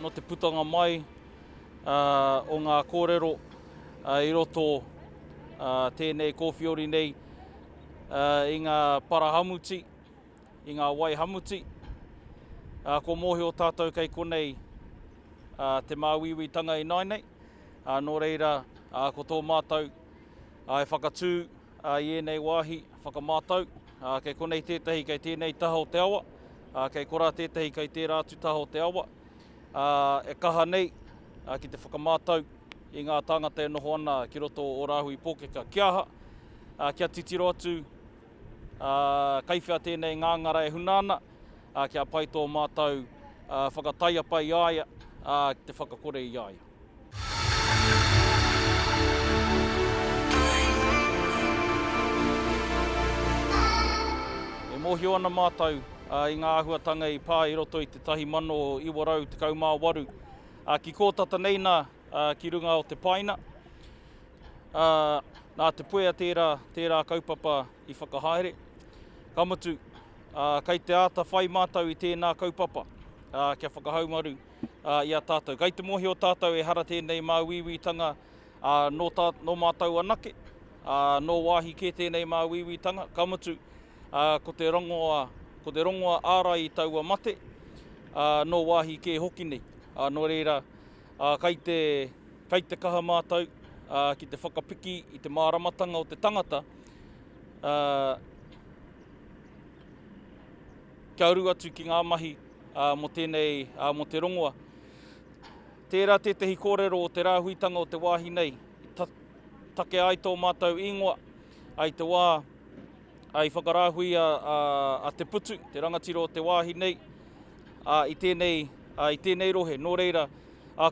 Nō te putanga mai o ngā kōrero i roto tēnei kōwhiori nei i ngā parahamuti, i ngā wai hamuti, ā, kua mōhio tātou kei konei ā, te māuiuitanga i nāinei, ā, nō reira, ā, ko tō mātou ā, e whakatū ā, i ēnei wāhi whakamātau, ā, kei konei tētahi kei tēnei taha o te awa, ā, kei korā tētahi kei tērā atu taha o te awa, ā, e kaha nei ā, ki te whakamātau i ngā tāngata e noho ana ki roto o Rāhui Pōkeka, kia aha, ā, kia titiro atu Ā, kei whea tēnei ngāngara e huna ana? Ā, kia pai tō mātou whakataiapa i a ia, ā, ki te whakakore i a ia. E mōhio ana mātou i ngā āhuatanga i pā i roto i te 1918, ā, ki kō tata nei nā ki runga o te paina. ā, nā Te Puea tērā, tērā kaupapa i whakahaere. Ka mutu, ā, kei te āta whai mātou i tēnā kaupapa, ā, kia whakahaumaru ā, i a tātou. Kei te mōhio tātou ehara tēnei māuiuitanga ā, nō, tā, nō mātou anake, ā, nō wāhi kē tēnei māuiuitanga, ka mutu, ā, ko te rongoa, ko te rongoa ārai i taua mate, ā, nō wāhi kē hoki nei. Ā, nō reira, Ā, kei te, kei te kaha mātou, ā, ki te whakapiki i te māramatanga o te tangata, ā, kia uru atu ki ngā mahi, ā, mō tēnei, ā, mō te rongoa. Tērā tētehi kōrero o te rāhuitanga o te wāhi nei, i ta, takea ai tō mātou īngoa, ai te wā, ā, i whakarāhui a, a, a Te Putu, te rangatira o te wāhi nei, i tēnei, i tēnei rohe. Nō reira,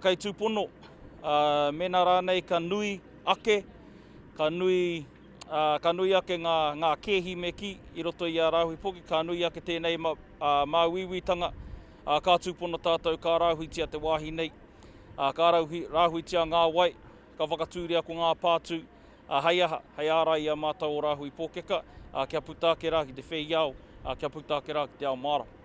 kei tūpono, mēnā rānei ka nui ake, ka nui, ka nui ake ngā, ngā kēhi me kī i roto i ā rāhui poki, ka nui ake tēnei ma, māuiuitanga, ka tūpono tātou ka rāhuitia te wāhi nei, ka rāhui, rāhuitia ngā wai, Ka whakatūria ko ngā pātū, ā, hei aha, hei ārai i a mātou ō rāhui pōkeka, ā, kia puta ake rā ki te wheiao, ā, kia puta ake rā ki te ao mārama.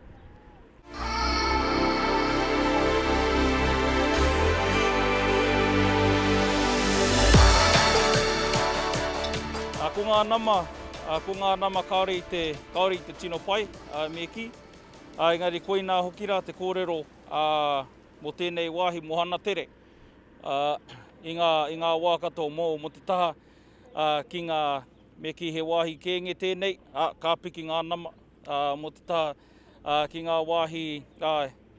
Ko ngā nama, ko ngā nama kāore i te, kāore i te tino pai, me kī. Engari koinā hoki rā te kōrero mō tēnei wāhi, mō Hanatere. i ngā wā katoa mō mō te taha ki ngā me kī he wāhi kēnge tēnei, ka piki ngā nama mō te taha ki ngā wāhi,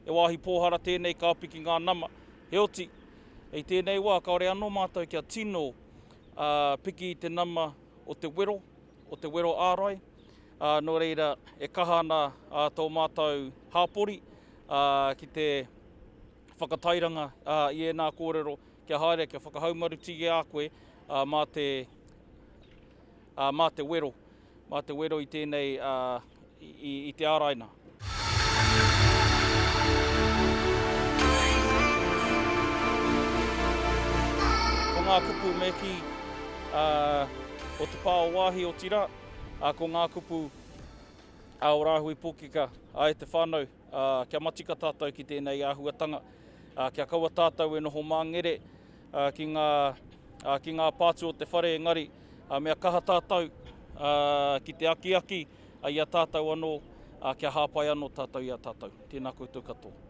he wāhi pōhara tēnei ka piki ngā nama. Heoti, i tēnei wā kāore anō mātou kia tino piki i te nama o te wero, o te wero ārai, nō reira e kaha ana tō mātou hapori ki te. whakatairanga i ēnā kōrero kia haere kia whakahaumarutī e a koe mā te mā te wero, mā te wero i tēnei i te āraina. Ko ngā kupu me kī o te pā o Waahi otirā ko ngā kupu a Ō Rāhui Pōkeka e te whānau ā, kia matika tātou ki tēnei āhuatanga, ā, kia kaua tātou e noho māngere ā, ki, ngā, ā, ki ngā pātū o te whare engari ā, mea kaha tātou ā, ki te akiaki ā, i a tātou anō, ā, kia hāpai anō tātou i a tātou. Tēnā koutou katoa.